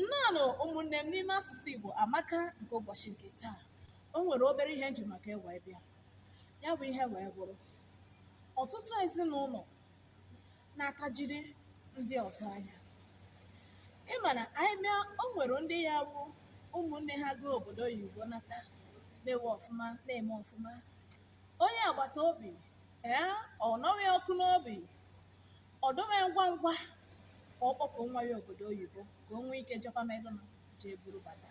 nnọọnụ ụmụnne m n'ime asụsụ Igbo amaka nke ụbọchị nke taa o nwere obere ihe m ji maka ya wee bịa ya bụ ihe wee bụrụ ọtụtụ ezinụlọ na-atajiri ndị ọzọ anya ị ma na anyị bịa o nwere ndị ya abụ ụmụnne ha gaa obodo oyibo nata mewe ọfụma na-eme ọfụma onye agbata obi ee ọ nụwe ọkụ n'obi ọ dụwe ngwa ngwa ka ọ kpọpụ nwa ya obodo oyibo ka o nwee ike jekwa ma ego na jee buru bata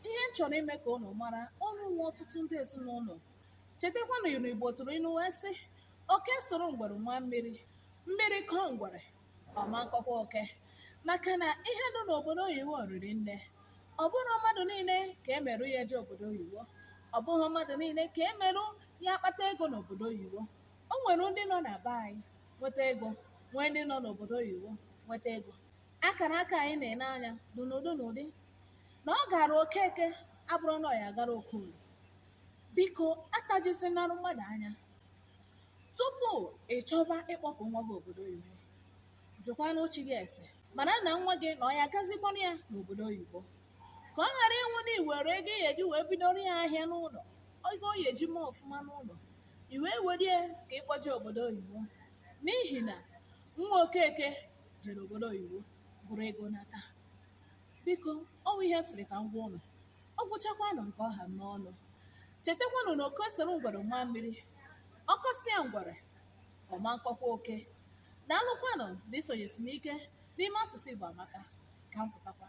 ihe m chọrọ ime ka unu mara unu nwe ọtụtụ ndị ezinụlọ chetakwanụ inu igbo tụrụ inu wee sị oke soro ngwere maa mmiri mmiri kọọ ngwere ọ ma nkọkwa oke maka na ihe nọ n'obodo oyibo riri nne ọ bụrọ mmadụ niile ka e merụ ya eje obodo oyibo ọ bụghị mmadụ niile ka e merụ ya akpata ego n'obodo oyibo o nwere ndị nọ na be anyị nweta ego nwee ndị nọ n'obodo oyibo nweta ego akara aka anyị na-ene anya dị n'ụdị n'ụdị na ọ gara okeke abụrọ na ọ ya agara okorie biko atajisinarụ mmadụ anya Tupu ị chọba ịkpọpụ nwa gị obodo oyibo, jụkwanụ chi gị ese mara na nwa gị na ọ ya agazikwanụ ya n'obodo oyibo ka ọ ghara ịwụ na i were ego ị ya eji wee bidoro ya ahịa n'ụlọ ego ọ ya eji mee ọfụma n'ụlọ i wee were ya ka ị kpọje obodo oyibo n'ihi na nwa okeke jere obodo oyibo buru ego nata Biko, ọ bụ ihe m sịrị ka m gwa ụnụ. Ọ gwụchakwanụ nke ọ ha m n'ọnụ. Chetakwanụ na oke soro ngwere maa mmiri. Ọ kọsịa ngwere, ọ ma nkọkwa oke. Daalụkwanụ na isonyesi m ike n'ime asụsụ Igbo amaka. Ka m pụtakwa.